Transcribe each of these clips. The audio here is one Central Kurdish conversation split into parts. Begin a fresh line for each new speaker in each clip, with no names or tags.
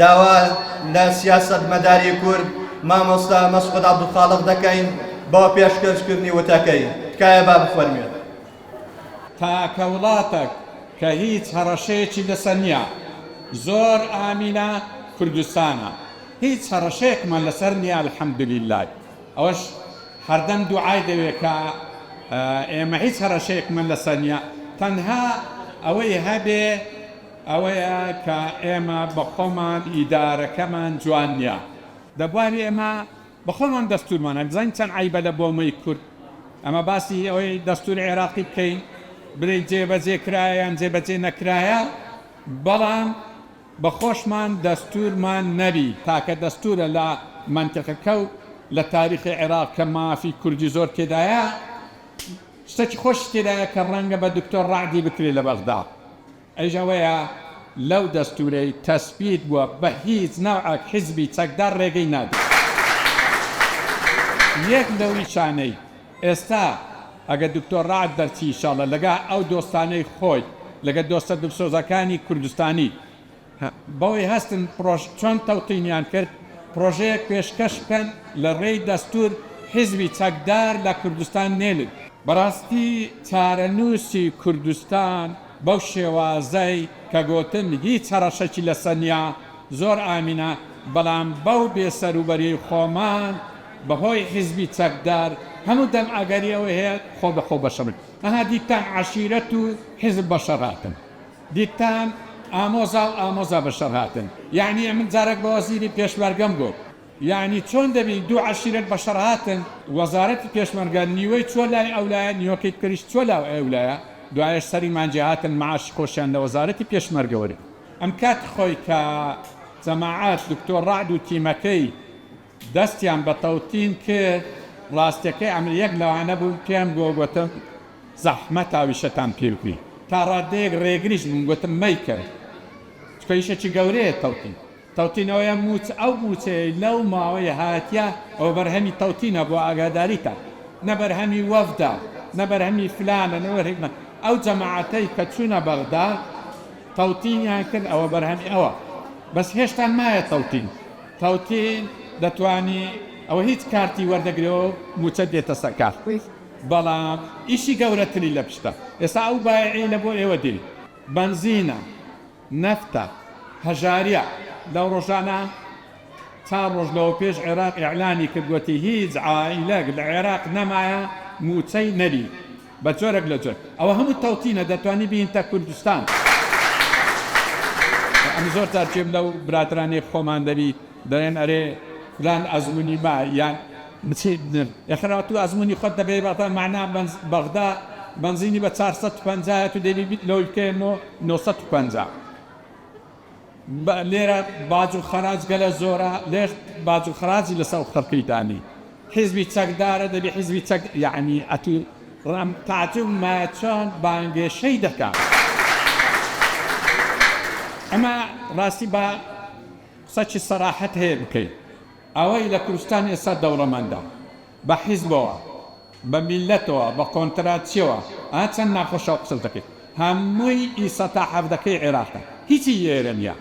داوا لە سیاسەتمەداری کورد مامۆستا مەسعود عەبدولخالق دەکەین بۆ پێشکەشکردنی وتەکەی. تکایە با بفەرموێت.
تاکە وڵاتەک کە هیچ هەڕەشەیەکی لەسەر نیە زۆر ئامینە کوردستانە هیچ هەڕەشەیەکمان لەسەر نیە الحمدللە ئەوەش هەردەم دوعای دەوێت کە ئێمە هیچ هەڕەشەیەکمان لەسەر نیە تەنها ئەوەی هەبێ ئەوەیە کە ئێمە بە خۆمان ئیدارەکەمان جوان نیە دە بواری ئێمە بە خۆمان دەستورمان هەیە بزانین چەند عەیبە لە بۆمەی کورد ئەمە باسی ئەوەی دەستوری عێراقی بکەین بلێین جێ بەجێ کرایە یان جێ بەجێ نەکرایە بەڵام بە خۆشمان دەستورمان نەبی تاکە دەستورە لە مەنتقەکە و لە تاریخی عێراق کە مافی کوردی زۆر تێدایە شتەکی خۆشی تێدایە کە ڕەنگە بە دکتۆر ڕەعدی بکرێ لە بەغدا ئەویش ئەوەیە لەو دەستورەی تەسبیت بوە بە هیچ نەوعەک حیزبی چەکدار رێگەی نادەن یەک لەویشانەی ئێستا ئەگەر دکتۆر رەعد بەرچی ئیشاڵە لەگا ئەو دۆستانەی خۆی لەگە دۆستە دلسۆزەکانی کوردستانی بەوەی هەستن پرۆژ چۆن تەوتینیان کرد پرۆژەیەک پێشکەش بکەن لە رێی دەستور حیزبی چەکدار لە کوردستان نێلن. بەراستی چارەنوسی کوردستان. بەو شێوازەی کە گۆتن هیچ هەڕەشەکی لەسەر نیە زۆر ئامینە بەڵام بەو بێ سەروبەریەی خۆمان بەهۆی حیزبی چەکدار هەموو دەم ئەگەری ئەوەی هەیە خۆ بەخۆ بەشە بن ئەها دیتان عەشیرەت و حیزب بەشەڕ هاتن دیتان ئامۆزا و ئامۆزا بەشەڕ هاتن یەعنی ئەمن جارەک بە وەزیری پێشمەرگەم گۆت یەعنی چۆن دەبین دوو عەشیرەت بەشەڕ هاتن وەزارەتی پێشمەرگە نیوەی چوە لای ئەو لایە نیوەکەی تریش چوە لاو ئەو لایە دوایەش سەری مانجێ هاتن معاشی خۆشیان لە وەزارەتی پێشمەرگە وەرگرت ئەم کات خۆی کە جەماعەت دکتۆر ڕەعد و تیمەکەی دەستیان بە تەوتین کرد ڕاستەکەی ئەمن یەک لەوانە بووم پێم گۆ گۆتم زەحمەت هاویشەتان پێ بکرین تا ڕادەیەک ڕێگریش بووم گۆتم مەیکەن چکە ئیشەکی گەورەیە تەوتین تەوتینەوەیە مووچ ئەو مووچەیەی لەو ماوەی هاتیە ئەوە بەرهەمی تەوتینە بۆ ئاگاداریتان نە بەرهەمی وەفدە نە بەرهەمی فلانە نە بەرهەمی فلان ئەو جەماعەتەی کە چوونە بەغدا تەوتینیان کرد ئەوە بەرهەمی ئەوە بەس هێشتا مایە تەوتین تەوتین دەتوانی ئەوە هیچ کارتی وەردەگرێ و مووچەت دێتە سەر کار بەڵام ئیشی گەورەتری لە پشتە ئێستا ئەو بایعی لە بۆ ئێوە دێ بەنزینە. نەفتە، هەژاریە لەو ڕۆژانە چار ڕۆژ لەوە پێش عێراق ئیعلانی کرد وتی هیچ عائیلەک لە عێراق نەمایە موچەی نەری بە جۆرەک لە جۆر ئەوە هەموو تەوتینە دەتوانی بینتە کوردستان ئەم زۆر تارکێم لەو برادرانەی خۆمان دەبی دەڵێن ئەرێ فلان ئەزمونی ما یان بچی بنر ئێخر ئەتو ئەزمونی خۆت دەگەی بەغدا مەعنا بەنز بەغدا بەنزینی بە چار سەد و پەنجا یە تو دەیوی بیت لەوەی بکەیە نۆ نۆ سەد و پەنجا بە لێرە باج و خەراج گەلە زۆرە لێش باج و خەراجی لەسە و خەرکی دانی حیزبی چەک دارە دەبی حیزبی چەک یەعنی ئەتو ڕام تاجم ما چۆن بانگێشەی دەکا ئەمە ڕاستی با. قسەکی سەراحەت هەیە بکەی ئەوەی لە کوردستان ئێستا دەوڵەمەندە بە حیزبەوە بە میللەتەوە بە کۆنتراتچیەوە ئا چەند ناخۆشە ئەو قسەش دەکەی هەمووی ئی سەتا حەڤدەکەی عێراقە هیچی ئێرە نیە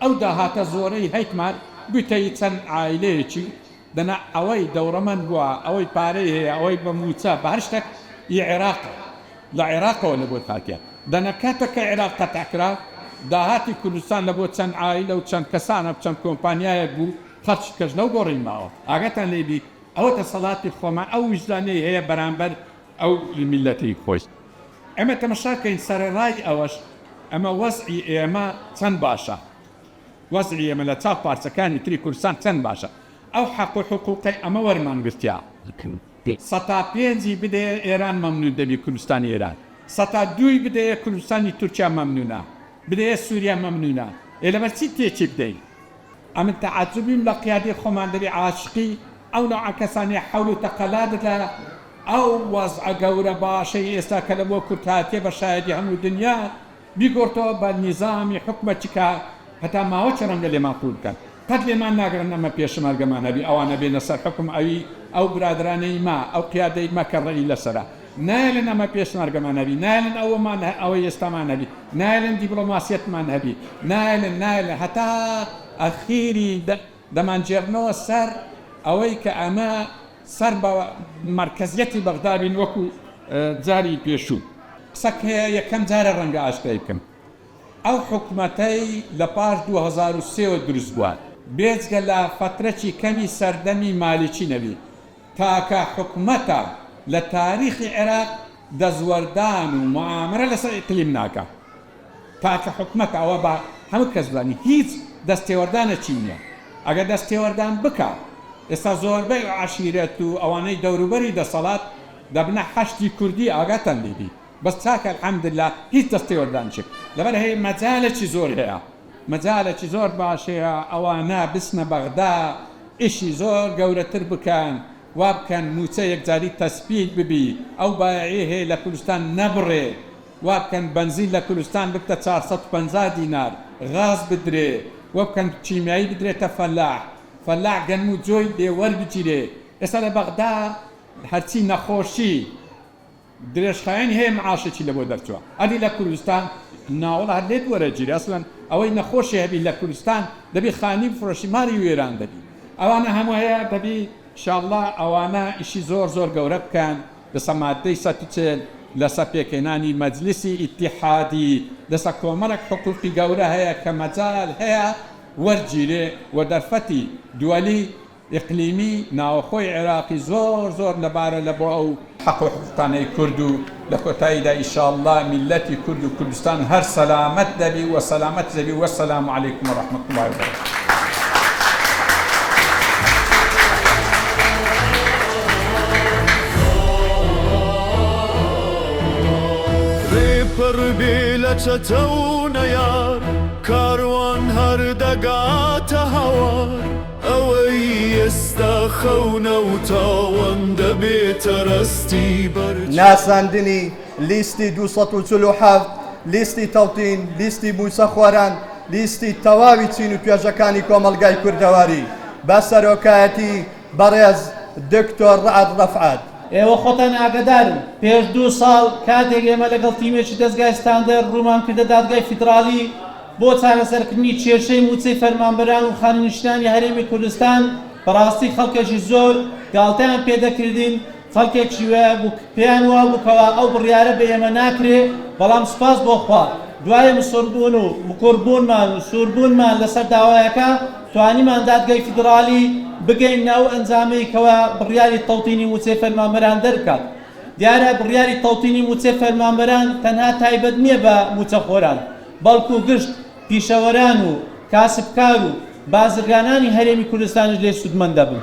ئەو داهاتە زۆرەی هەیتمان گوتەی چەند عایلەیەکی دەنا ئەوەی دەوڕەمەند بوە ئەوەی پارەی هەیە ئەوەی بە موچە بە هەر شتەک ی عێراقە لە عێراقەوە لە بۆت هاتیە دەنا کاتەک کە عێراق قەتع کرا داهاتی کوردستان لە بۆ چەند عایلە و چەند کەسانە چەند کۆمپانیایەک بو خەرچی کەش نەو گۆڕی ماوە ئاگاتان لێ بی ئەوە دەسەڵاتی خۆمان ئەو ویژدانەی هەیە بەرامبەر ئەو میلەتی خۆی ئێمە تەمەشا کەین سەرەڕای ئەوەش ئەمە وەزعی ئێمە چەند باشە. وەزعی ئێمە لە چاو پارچەکانی تری کوردستان چەند باشە ئەو حەق و حقوقەی ئەمە وەرمان گرتیە سەتا پێنجی بدەیە ئێران مەمنون دەبی کوردستانی ئێران سەتا دووی بدەیە کوردستانی تورکیا مەمنونە بدەیە سوریا مەمنونە ئێ لەبەر چی تێکی بدەین ئەمن تەعەجوبیم لە قیادەی خۆمان دەبی عاشقی ئەو نەوعە کەسانەی حەول و تەقەلا دەدا ئەو وەزعە گەورە باشەی ئێستا کە لە بۆ کورد هاتیە بە شایەدی هەموو دنیا بیگۆڕتۆ بە نیزامی حوکمە چکە هەتا ماوە چ ڕەنگە لێمان قووت بکەن قەت لێمان ناگرن ئەمە پێشمەرگەمان هەبی ئەوانە بێنە سەر حوکم ئەوی ئەو برادرانەی مە ئەو قیادەی مە کە ڕێی لەسەرە نایەلن ئەمە پێشمەرگەمان هەبی نایەلن ئەوەمان ئەوەی ئێستامان هەبی نایەلن دیبڵۆماسیەتمان هەبی نایەلن نایەلن هەتا ئەخیری دەمانگێڕنەوە سەر ئەوەی کە ئەمە سەر بە مەرکەزیەتی بەغدا بین وەکو جاری پێشوو. قسەک هەیە یەکەم جارە ڕەنگە ئاشکرای بکەم ئەو حکومەتەی لە پاش دوو هەزار و سێ وە دروست بوە بێجگە لە فەترەکی کەمی سەردەمی مالیکی نەبی تاکە حکومەتە لە تاریخی عێراق دەستوەردان و موعامەرە لەسەر ئیقلیم ناکا تاکە حکومەتە ئەوە با هەموو کەس بزانی هیچ دەست تێوەردانەکی نیە ئەگەر دەست تێوەردان بکا ئێستا زۆربەی عەشیرەت و ئەوانەی دەوروبەری دەسەڵات دەبنە حەشدی کوردی ئاگاتان لێ بی بەس تاکە الحمدللە هیچ دەست تێوەردانچک لەبەر هەیە مەجالەکی زۆر هەیە مەجالەکی زۆر باش هەیە ئەوانە بچنە بەغدا ئیشی زۆر گەورەتر بکەن وابکەن موچە یەکجاری تەسپیت ببی ئەو بایەعی هەیە لە کولستان نەبڕێ وابکەن بەنزین لە کولستان ببتە چار سەد و پەنجا دینار غاز بدرێ وەبکەن کیمیایی بدرێتە فەلاح فەلاح گەنم و جۆی لێ وەربگیرێ ئێستا لە بەغدا هەرچی نەخۆشی درێژخایەنی هەیە معاشێکی لەبۆ دەرچووە ئەدی لە کوردستان نا وەڵا هەر لێت وەرە گیری ئەسڵەن ئەوەی نەخۆشی هەبی لە کوردستان دەبی خانی بفرۆشی مالی وێران دەبی ئەوانە هەموو هەیە دەبی شاڵڵا ئەوانە ئیشی زۆر زۆر گەورە بکەن دەسە مادەی سەد و چل لەسە پێکهێنانی مەجلیسی ئیتیحادی دەسە کۆمەڵێک حقوقی گەورە هەیە کە مەجال هەیە وەرگیرێ وە دەرفەتی دوەلی ئیقلیمی ناوەخۆی عێراقی زۆر زۆر لەبارە لە بۆ ئەو حەق و حقوقانەی کورد و لە کۆتاییدا ئیشاڵڵا میللەتی کورد و کوردستان هەر سەلامەت دەبی و سەلامەت زەبی وەسەلام علیکم و رەحمەت اللە و بەرەکاتوه.
ڕێپەڕ بێ لە چەتە و نەیار کاروان هەر دەگاتە هەوار. ئەوەی ئێستا خەونە و تاوەندە بێتە ڕەستی بەر چاو. ناساندنی
لیستی دوو سەد و چل و حەفت، لیستی تەوتین، لیستی مووچەخۆران، لیستی تەواوی چین و توێژەکانی کۆمەڵگای کوردەواری بە سەرۆکایەتی بەڕێز دکتۆر ڕەعد ڕەفعەت. ئێوە خۆتان
ئاگادارن پێش دوو ساڵ کاتێک ئێمە لەگەڵ تیمێکی دەزگای ستاندەر ڕوومان کردە دادگای فیدراڵی، بۆ چارەسەرکردنی کێشەی مووچەی فەرمانبەران و خانەنشینانی هەرێمی کوردستان، بەڕاستی خەڵکێکی زۆر گاڵتەیان پێ دەکردین، خەڵکێکی وەیە بوو پێیان وابوو کەوا ئەو بڕیارە بە ئێمە ناکرێ، بەڵام سوپاس بۆ خوا دوای مصربوون و مکوڕبوونمان و سووربوونمان لەسەر داوایەکە توانیمان دادگای فیدراڵی بگەیننە ئەو ئەنجامەی کەوا بڕیاری تەوتینی مووچەی فەرمانبەران دەربکات. دیارە بڕیاری تەوتینی مووچەی فەرمانبەران تەنها تایبەت نییە بە مووچەخۆران، بەڵکو گشت پیشەوەران و کاسبکار و بازرگانانی هەرێمی کوردستانیش لێ سوودمەند دەبن.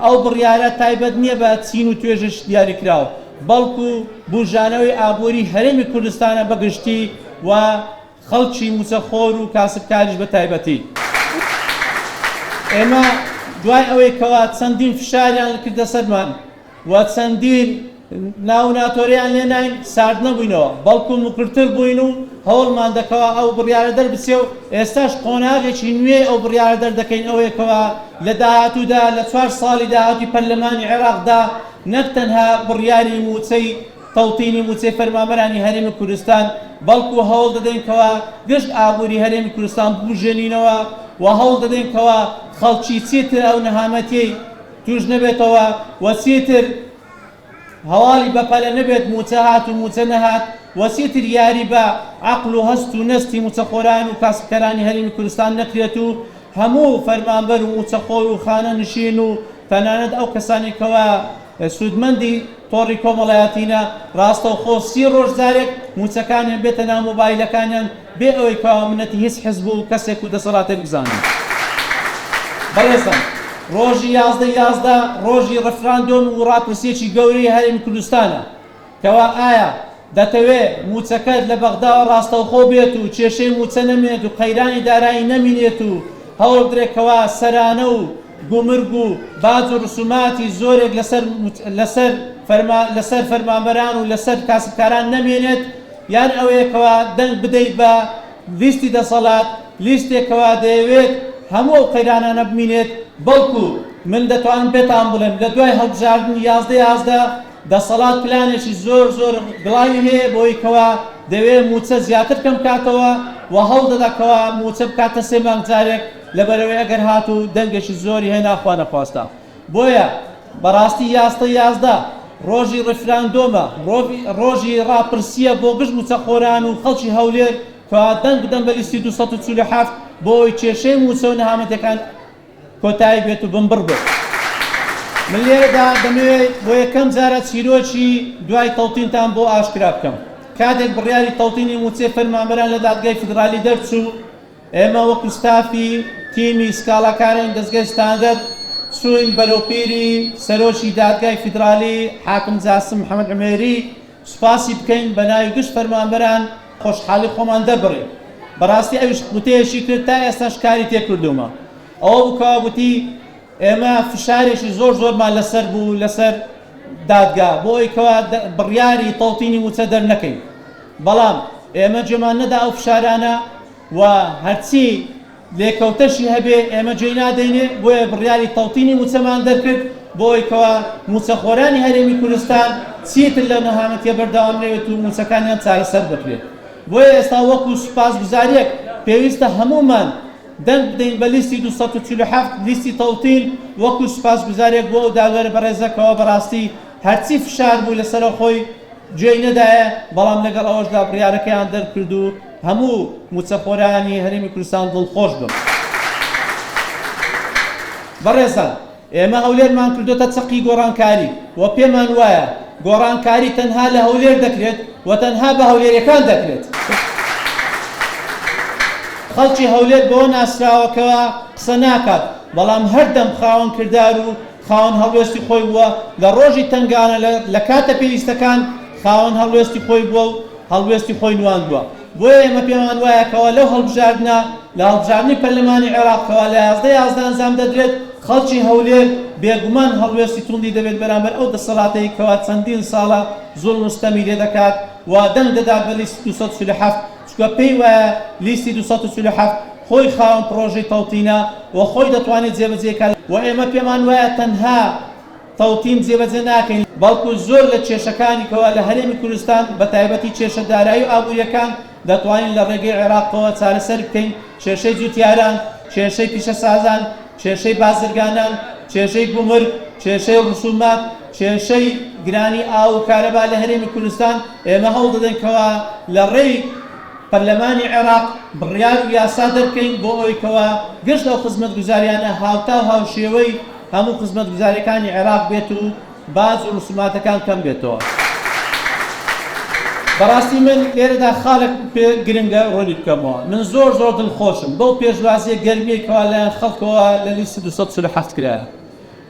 ئەو بڕیارە تایبەت نییە بە چین و توێژێکی دیاریکراو، بەڵکو بووژانەوەی ئابووریی هەرێمی کوردستانە بە گشتی و خەڵکی مووچەخۆر و کاسبکاریش بە تایبەتی. ئێمە دوای ئەوەی کەوا چەندین فشاریان کردە سەرمان، و چەندین ناو و ناتۆریان لێ ناین، سارد نەبووینەوە، بەڵکو مکرتر بووین و هەوڵمان دە کەوە ئەو بڕیارە دەربچێ و ئێستاش قۆناغێکی نوێی ئەو بڕیارە دەردەکەین ئەوەیە کەوا لە داهاتوودا لە چوار ساڵی داهاتووی پەرلەمانی عێراقدا نەک تەنها بڕیاری مووچەی تەوتینی مووچەی فەرمانبەرانی هەرێمی کوردستان بەڵکو هەوڵ دەدەین کەوا گشت ئابووری هەرێمی کوردستان ببوژێنینەوە و هەوڵ دەدەین کەوا خەڵکی چیتر ئەو نەهامەتیەی تووش نەبێتەوە و چیتر هەواڵی بەپەلە نەبێت مووچە هات و مووچە نەهات و چیتر یاری بە عەقڵ و هەست و نەستی مووچەخۆران و کاسبکەرانی هەرێمی کوردستان نەکرێت و هەموو فەرمانبەر و مووچەخۆر و خانەنشین و تەنانەت ئەو کەسانەی کەوا سوودمەندی تۆڕی کۆمەڵایەتینە ڕاستەوخۆ سی ڕۆژ جارێک مووچەکانیان بێتە ناو مۆبایلەکانیان بێ ئەوەی کوا و منەتی هیچ حزب و کەسێک و دەسەڵاتێک بزانم. بەڕێزم ڕۆژی یازدە ی یازدە ڕۆژی ڕفراندۆم و ڕاپرسیەکی گەورەی هەرێمی کوردستانە کەوا ئایا دەتەوێ موچەکەت لە بەغداوە ڕاستەوخۆ بێت و کێشەی موچە نەمێنێت و قەیرانی دارایی نەمینێت و هەوڵبدرێت کەوا سەرانە و گومرگ و باج و ڕسوماتی زۆرێک لەسەر لەسەر فەرمانبەران و لەسەر کاسبکاران نەمێنێت یان ئەوەیە کەوا دەنگ بدەیت بە لیستی دەسەڵات، لیستێک کەوا دەیەوێت هەموو ئەو قەیرانانە بمینێت، بەڵکو من دەتوانم پێتان بڵێم لە دوای هەڵبژاردنی یازدە یازدە دەسەڵات پلانێکی زۆر زۆر گڵاوی هەیە بۆ ئەوەی کەوا دەوێت مووچە زیاتر کەم کاتەوە و هەوڵدەدا کەوا مووچە بکاتە سێ مانگ جارێک لەبەرئەوەی ئەگەر هاتوو دەنگێکی زۆری هێنا خوانەخواستە بۆیە بەڕاستی یاستە یازدە ڕۆژی ڕیفراندۆمە، ڕۆژی ڕاپرسییە بۆ گشت مووچەخۆران و خەڵکی هەولێر کە دەنگ بدەن بە لیستی دوو سەد و چل و حەفت بۆ ئەوەی کێشەی مووچە و نەهامەتیەکان کۆتایی بێت و بنبڕ بێت. من لێرەدا دەمەوێ بۆ یەکەم جارە چیرۆکی دوای تەوتینتان بۆ ئاشکرا بکەم. کاتێک بڕیاری تەوتینی مووچەی فەرمانبەران لە دادگای فیدرالی دەرچوو، ئێمە وەکو ستافی تیمی سکاڵاکارانی دەزگای ستاندەر چووین بەرەو پیری سەرۆکی دادگای فیدرالی حاکم جاسم محەمەد عومێری سوپاسی بکەین بەناوی گشت فەرمانبەران خۆشحالی خۆمان دەربڕین بەڕاستی ئەویش وتەیەکی کرد تا ئێستاش کاری تێکردوومە ئەوە بکەوە گوتی ئێمە فشارێکی زۆر زۆرمان لەسەر بوو لەسەر دادگا بۆ ئەوەی کەوا بڕیاری تەوتینی مووچە دەرنەکەین بەڵام ئێمە جێمان نەدا ئەو فشارانە و هەرچی لێکەوتەشی هەبێ ئێمە جێی نادەینێ بۆیە بڕیاری تەوتینی مووچەمان دەرکرد بۆ ئەوەی کەوا مووچەخۆرانی هەرێمی کوردستان چیتر لەو نەهامەتیە بەردەوام نەوێت و مووچەکانیان چارەسەر بکرێت بۆیە ئێستا وەکو سوپاسگوزارییەک پێویستە هەموومان دەنگ بدەین بە لیستی دوو سەد و چل و حەفت لیستی تەوتین وەکو سوپاسگوزاریەک بۆ ئەو داوێر بەڕێزە کەوا بەڕاستی هەرچی فشار بوو لەسەرە خۆی گوێی نەدایە بەڵام لەگەڵ ئەوەشدا بڕیارەکەیان دەرکرد و هەموو موچەخۆرانی هەرێمی کوردستان دڵخۆش بم. بەڕێزان ئێمە هەولێرمان کردۆتە چەقی گۆڕانکاری و پێمان وایە گۆڕانکاری تەنها لە هەولێر دەکرێت و تەنها بە هەولێریەکان دەکرێت. خەڵکی هەولێر بەوە ناسراوە کەوا قسە ناکات بەڵام هەردەم خاوەن کردار و خاوەن هەڵوێستی خۆی بووە، لە ڕۆژی تەنگانە لە کاتە پێویستەکان خاوەن هەڵوێستی خۆی بووە و هەڵوێستی خۆی نواندووە. بۆیە ئێمە پێمان وایە کەوا لەو هەڵبژاردنە، لە هەڵبژاردنی پەرلەمانی عێراق کەوا لە یازدە یازدە ئەنجام دەدرێت، خەڵکی هەولێر بێگومان هەڵوێستی توندی دەبێت بەرامبەر ئەو دەسەڵاتەی کەوا چەندین ساڵە زوڵم و ستەمی لێ دەکات و دەنگ دەدات بە لیستی دوو سەد و چل و حەفت، چونکە پێی وایە لیستی دوو سەد و چل و حەفت خۆی خاوەن پڕۆژەی تەوتینە و خۆی دەتوانێت جێبەجێی کات و ئێمە پێمان وایە تەنها. تەوتین جێبەجێ ناکەین، بەڵکو زۆر لە کێشەکانی کەوا لە هەرێمی کوردستان بە تایبەتی کێشە دارایی و ئابوورییەکان دەتوانین لە ڕێگەی عێراقەوە چارەسەر بکەین، کێشەی جووتیاران، کێشەی پیشەسازان، کێشەی بازرگانان، کێشەی گومرگ، کێشەی ڕسوومات، کێشەی گرانی ئاو و کارەبا لە هەرێمی کوردستان، ئێمە هەوڵ دەدەین کەوا لە ڕێی پەرلەمانی عێراق بڕیار و یاسا دەرکەین بۆ ئەوەی کەوا گشت ئەو خزمەتگوزارییانە هاوتا و هاوشێوەی هەموو خزمەتگوزاریەکانی عێراق بێت و باج و رسوماتەکان کەم بێتەوە. بەڕاستی من لێرەدا خالێک پێ گرنگە رونی بکەمەوە من زۆر زۆر دڵخۆشم بەو پێشوازیە گەرمیەی کەوا لەلایەن خەڵکەوە لە لیست دوو سەد و چل و حەفت کرایە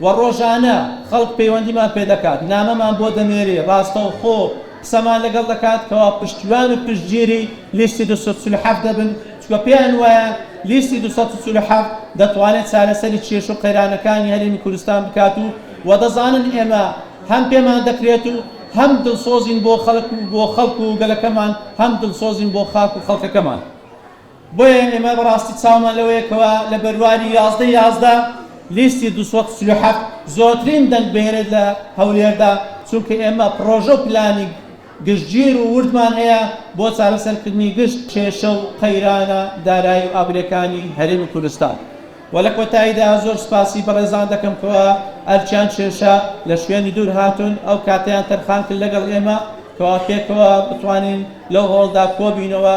و رۆژانە خەڵک پەیوەندیمان پێ دەکات نامەمان بۆ دەنێری راستەوخۆ قسەمان لەگەڵ دەکات کەوا پشتیوان و پشتگیری لیستی دوو سەد و چل و حەفت دەبن چونکە پێیان وایە لیستی دوو سەد و چل و حەفت دەتوانێت چارەسەری کێشە و قەیرانەکانی هەرێمی کوردستان بکات و وە دەزانن ئێمە هەم پێمان دەکرێت و هەم دڵسۆزین بۆ خەڵک و بۆ خەڵک و گەلەکەمان هەم دڵسۆزین بۆ خاک و خەڵکەکەمان بۆیە ئێمە بەڕاستی چاومان لەوەیە کەوا لە بەرواری یازدە یازدە لیستی دوو سەد و چل و حەفت زۆرترین دەنگ بهێنێت لە هەولێردا چونکە ئێمە پڕۆژە و پلانی گشتگیر و وردمان هەیە بۆ چارەسەرکردنی گشت کێشە و قەیرانە دارایی و ئابوورییەکانی هەرێمی کوردستان و لە کۆتاییدا زۆر سوپاسی بەڕێزان دەکەم کەوا ئەرکیان کێشا لە شوێنی دوور هاتوون ئەو کاتەیان تەرخان کرد لەگەڵ ئێمە کەوا پێکەوە بتوانین لەو هۆڵدا کۆبینەوە